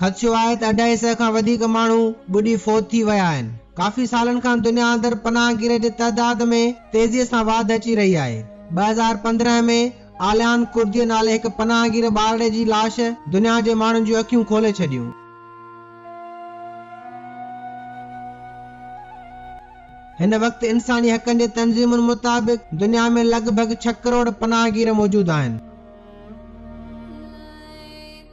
خدشو آهي ته اڍائي سئي کان وڌيڪ ماڻهو ٻڏي فوت ٿي ويا آهن. ڪافي سالن کان دنيا اندر پناهگير جي تعداد ۾ تيزي سان واڌ اچي رهي آهي. ٻه هزار پندرهن ۾ آليان ڪرديء نالي هڪ پناهگير ٻارڙي جي لاش دنيا جي ماڻهن جون اکيون کولي ڇڏيون. هن وقت انساني حقن جي تنظيمن مطابق دنيا ۾ لڳ ڀڳ ڇهه ڪروڙ پناهگير موجود آهن.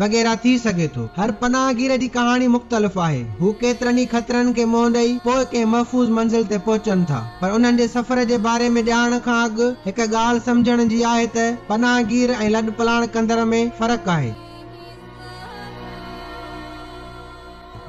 وغيره ٿي سگهي ٿو. هر پناهگير جي ڪهاڻي مختلف آهي. هو ڪيترن ئي خطرن کي منهن ڏئي پوء ڪنهن محفوظ منزل تي پهچن ٿا. پر انهن جي سفر جي باري ۾ ڄاڻڻ کان اڳ هڪ ڳالهه سمجهڻ جي آهي ته پناهگير ۽ لڏپلاڻ ڪندڙ ۾ فرق آهي.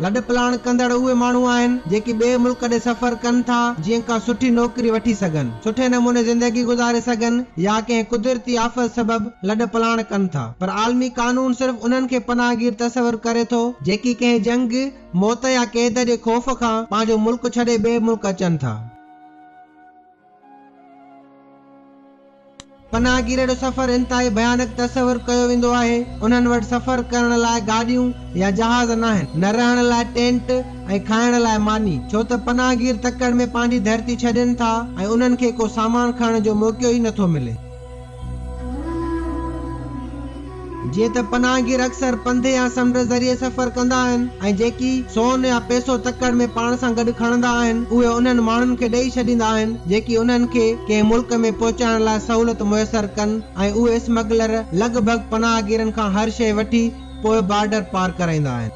لڏپلاڻ ڪندڙ اهي ماڻهو آهن، جيڪي ٻئي ملڪ ڏي سفر ڪن ٿا، جيئن ڪا سٺي نوڪري وٺي سگهن، سٺي نموني زندگي گذاري سگهن يا ڪنهن قدرتي آفت سبب لڏپلاڻ ڪن ٿا. پر عالمي قانون صرف انهن کي پناهگير تصور ڪري ٿو، جيڪي ڪنهن جنگ، موت يا قيد جي خوف کان پنهنجو ملڪ ڇڏي ٻئي ملڪ اچن ٿا. پناهگيرن جو سفر انتهائي ڀيانڪ تصور ڪيو ويندو آهي. انهن وٽ سفر ڪرڻ لاء گاڏيون يا جهاز ناهن، نه رهڻ لاء ٽينٽ ۽ کائڻ لاء ماني، ڇو ته پناهگير تڪڙ ۾ پنهنجي ڌرتي ڇڏين ٿا ۽ انهن کي ڪو سامان کڻڻ جو موقعو ئي نٿو ملي. جيئن ته پناهگير اڪثر پنڌ يا سمنڊ ذريعي سفر ڪندا آهن ۽ جيڪي سون يا پئسو تڪڙ ۾ پاڻ سان گڏ کڻندا آهن اهي انهن ماڻهن کي ڏئي ڇڏيندا آهن جيڪي انهن کي ڪنهن ملڪ ۾ پهچائڻ لاء سهولت ميسر ڪن ۽ اهي اسمگلر لڳ ڀڳ پناهگيرن کان هر شيء وٺي پوء بارڊر پار ڪرائيندا آهن.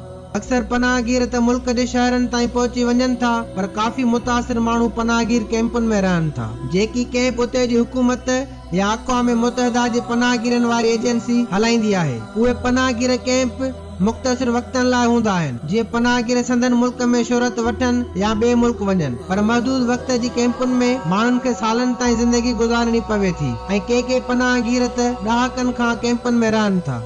اڪثر پناهگير ته ملڪ جي شهرن تائين پهچي وڃن ٿا پر ڪافي متاثر ماڻهو پناهگير ڪئمپن ۾ رهن ٿا جيڪي ڪئمپ اتي جي حڪومت يا اقوام متحده جي پناهگيرن واري ايجنسي هلائيندي آهي اهي پناهگير ڪئمپ مختصر وقتن لاء هوندا آهن جيئن پناهگير سندن ملڪ ۾ شهرت وٺن يا ٻئي ملڪ وڃن پر محدود وقت جي ڪئمپن ۾ ماڻهن کي سالن تائين زندگي گذارڻي پوي ٿي ۽ ڪي ڪي پناهگير ته ڏهاڪن کان ڪئمپن ۾ رهن ٿا.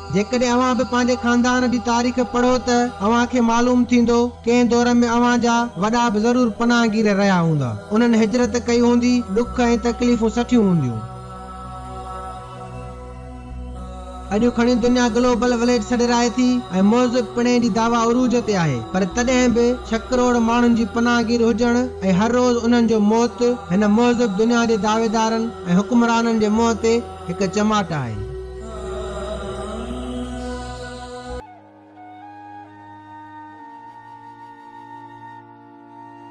جيڪڏهن اوهان به پنهنجي خاندان جي تاريخ پڙهو ته اوهان کي معلوم ٿيندو ڪنهن دور ۾ اوهان جا وڏا به ضرور پناهگير رهيا هوندا. انهن هجرت ڪئي هوندي، ڏک ۽ تڪليفون سٺيون هونديون. اڄ کڻي دنيا گلوبل وليج سڏرائي ٿي ۽ موزب پڻي جي دعويٰ عروج تي آهي پر تڏهن به ڇهه ڪروڙ ماڻهن جي پناهگير هجڻ ۽ هر روز انهن جو موت هن موزب دنيا جي دعويدارن ۽ حڪمرانن جي منهن تي هڪ چماٽ آهي.